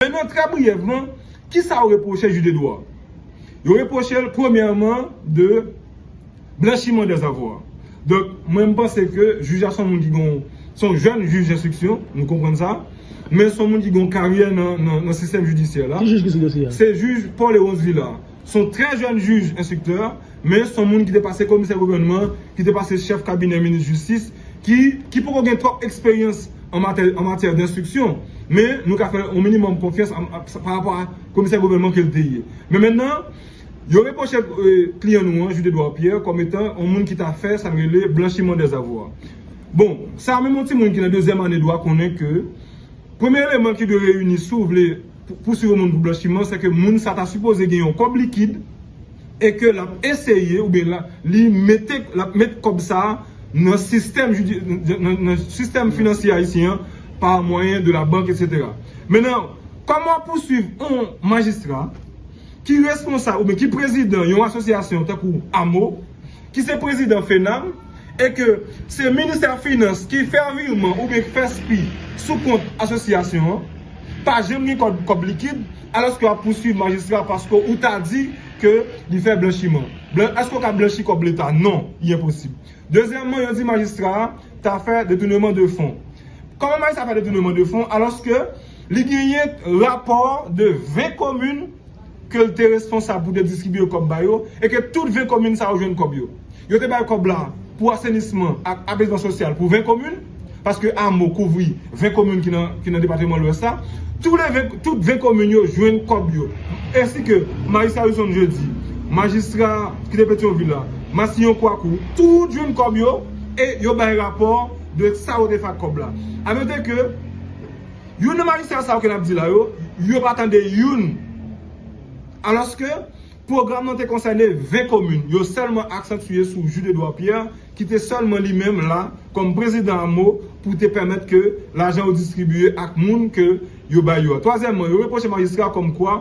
E nan trè briyèvman, ki sa yo repwoche Jude Edouard? Yo repwoche l premyèman de blanchiman dè zavwa. Donk, mwen m panse ke jij la se yon moun ki gen yon, se yon jèn jij denstriksyon, nou konprann sa, men se yon moun ki gen yon karyè nan sistèm jidisyè la. Ki jij ki sou dosye a? Se jij Paul Léonce Villard. Se yon trè jèn jij enstriktè. Men son moun ki te pase komisè gouvènman, ki te pase chèf kabinè minis jistis, ki ki poko gen twòp eksperyans an matè an matyè denstriksyon. Men nou ka fè yon minimòm konfyans a pa rapò a komisè gouvènman ke l te ye. Men mennan, yo repwoche kliyan nou an, Jude Edouard Pierre, kòm etan yon moun ki ta fè sa n rele blanchiman dè zavwa. Bon, sa menm yon timoun ki nan dezyèm ane dwa konnen ke premye eleman ki dwe reyini si w vle Pou pousuiv yon moun pou blanchiman, se ke moun sa ta sipoze gen yon kòb likid e ke l ap eseye oubyen li mete, l ap met kòb sa a nan sistèm jidi, nan sistèm finansye ayisyen an pa mwayen de la bank etsetera. Mennan, kòman pousuiv yon majistra? ki responsab oubyen ki prezidan yon asosyasyon tankou amo, ki se prezidan FENAM, e ke se ministè finans ki fè virman oubyen k fè spi sou kont asosyasyon an, pa janm gen kòb likid, alòske wap pouswiv majistra paske ou ta di ke li fè blanchiman. Èske ou ka blanchi kòb leta? Non, li enposib. Dezyèmman, yo di majistra a ta fè detouneman de fon. Kòman majistra fè detouneman de fon alòske Li genyen rapò de 20 komin ke l te responsab pou te distribye kòb ba yo e ke tout 20 komin sa yo jwenn kòb yo. Yo te bay kòb la pou asenisman ak apezman sosyal pou 20 komin, paske amo kouvri 20 komin ki nan depateman Lwès la. Tout 20 komin yo jwenn kòb yo. Ensi ke majistra Wilson Jeudi, majistra ki te Petyonvil la, Massillon Kwakou, tout jwenn kòb yo e yo bay rapò de sa yo te fè ak kòb la. A note ke. Youn nan majistra sa yo ke nap di la yo, yo pa tande youn. Alòske, pwogram nan te konsène 20 komin, yo sèlman aksantye sou Jude Edouard Pierre ki te sèlman li menm la kòm prezidan amo pou te pèmèt ke lajan yo distribiye ak moun ke yo bay yo a. Twazyèmman, yo repwoche majistra kòm kwa,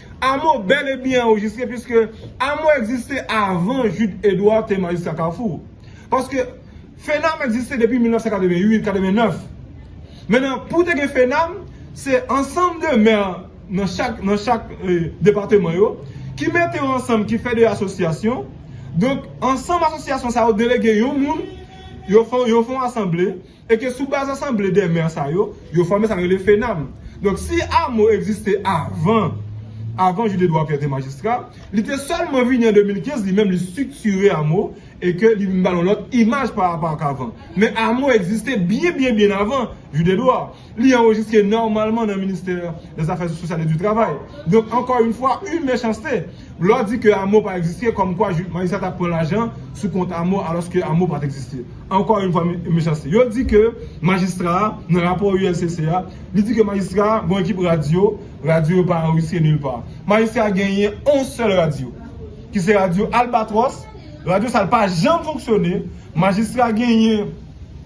Amo bel e byen anrejistre piske Amo egziste avan Jude Edouard te majistra Kafou. Paske FENAM egziste depi 1988, 89. Men nan pou te gen FENAM, se ansanm de mè nan chak nan chak depateman yo ki mete yo ansanm ki fè de asosyasyon. Donk ansanm asosyasyon sa yo delege yon moun, yo fon asanble. E ke sou baz asanble dè mè sa yo, yo fòme sa yo rele FENAM. Donk si amo egziste avan, avan Jude Edouard Pierre te majistra, li te sèlman vini an 2015, li menm li striktire amo, e ke li vin ba l yon lòt imaj pa rapò ak avan. Men amo egziste byen byen byen avan Jude Edouard. Li anrejistre nòmalman nan ministè dè zafè sosyal e di travay. Donk ankò yon fwa, yon mechanste! Glò di ke Amo pa egziste kòm kwa Marissa tap pran lajan sou kont Amo alòske Amo pat egziste. Ankò yn fwa mechanste. Yo di ke majistra a, nan rapò ULCC a, li di ke majistra a gen yon ekip radyo, radyo yo pa anrejistre nil pa. Majistra a genyen yon sèl radyo ki se radyo Albatròs, radyo sa l pa janm fonksyone, majistra genyen.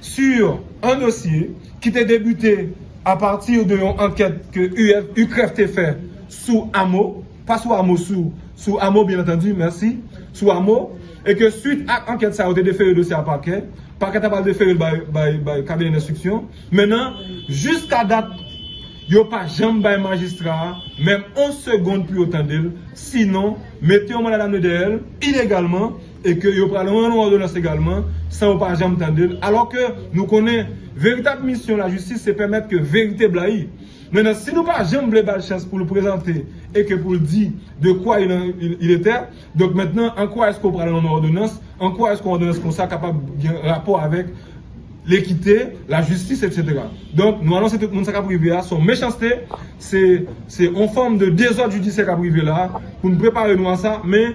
sur un dossier ki te debute a partir de yon ankèt ke UCREF te fè sou Amo, pa sou Amo sou, sou Amo byen antandi, mèsi, sou Amo, e ke suit ak ankèt sa yo te defere dosye a Pakè, Pakè ta pral defere l bay, bay kabinè denstriksyon, men nan, jiska dat, yo pa janm bay majistra a menm on segond pou yo tande l, sinon, mete yon manda damne dèyè l, ilegalman, e ke yo pral rann ou òdonans egalman san ou pa janm tande l, alò ke nou konnen veritab misyon lajistis se pèmèt ke verite blayi. Men nan si nou pa janm vle ba l chans pou l prezante e ke pou l di de kwa il en il etè, donk mentnan an kwa èske ou pral rann ou òdonans, an kwa èske yon òdonans konsa kapab gen rapò avèk lekite, lajistis etsetera. Donk nou anonse tout moun sa k ap rive a se yon mechanste, se yon fòm de dezòd jidisyè k ap rive la a, pou n prepare nou a sa, men.